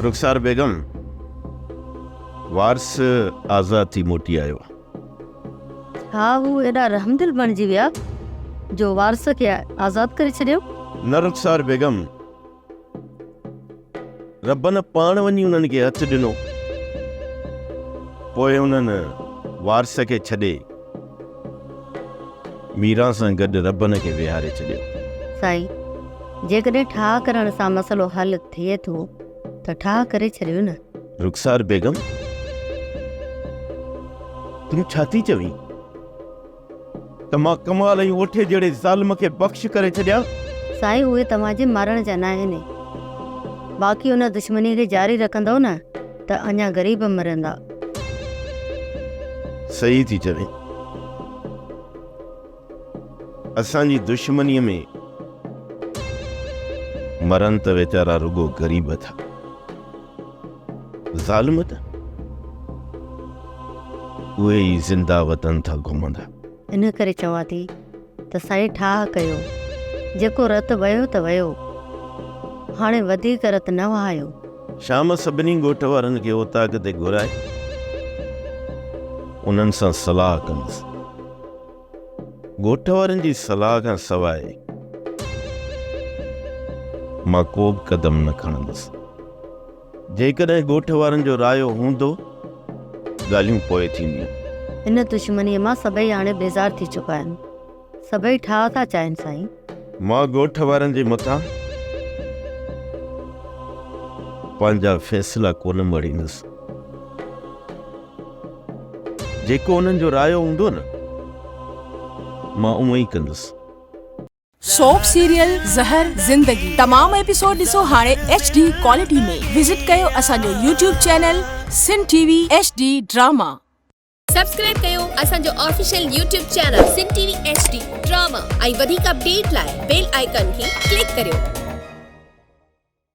رخسار بيگم وارث آزاد ٿي موٽي آيو. ها هو ايڏا رحمدل بڻجي ويا جو وارث کي آزاد ڪري ڇڏيو. نه رخسار بيگم ربنا پاڻ وڃي انهن کي هٿ ڏنو. پوء انهن وارث کي ڇڏي. ميران سان گڏ ربن کي ويهاري ڇڏيو. سائين جيڪڏهن ٺاهه ڪرڻ سان مسئلو حل ٿئي ٿو ته ٺاهه ڪري ڇڏيو نه. رخسار بيگم تون ڇا ٿي چوين ته مان ڪمال ۽ اوٺي جهڙي ظالم کي بخش ڪري ڇڏيان. سائين اهي توهان جي مارڻ جا ناهن باقي ان دشمني کي جاري رکندؤ نه. ته اڃا غريب مرندا. صحيح ٿي چوين. اسان جي دشمنيء ۾ مرن ته ويچارا رڳو غريب ٿا. ظالم ته اهي ئي زنده وطن ٿا گهمندا. ان ڪري چوان ٿي ته سائين ٺاهه ڪيو، جيڪو رت وهيو ته وهيو، هاڻي وڌيڪ رت نه وهايو. شام سڀني ڳوٺ وارن کي اوطاق تي گهرائي انهن سان صلاح ڪندس. ڳوٺ وارن جي صلاح کان سواء مان ڪوبه قدم نه کڻندس. جيڪڏهن ڳوٺ وارن جو رايو هوندو، ڳالهيون پوء ٿينديون. ان دشمنيء مان سڀئي هاڻي بيزار ٿي چڪا آهن. سڀئي ٺاهه ٿا چاهين سائين. مان ڳوٺ وارن جي مٿان پنهنجا فيصلا ڪونه مڙهيندس. جيڪو انهن جو رايو هوندو نه، مان اونئين ڪندس. سوپ سيريل زهر زندگي تمام ايپيسوڊ ڏسو هاڻي ايڇ ڊي ڪوالٽي ۾ وزٽ ڪيو اسان جو YouTube channel Sun T V H D drama. Subscribe ڪيو اسان جو official YouTube channel Sun T V H D drama ۽ وڌيڪ اپڊيٽ لاء بيل آئيڪن کي ڪلڪ ڪريو.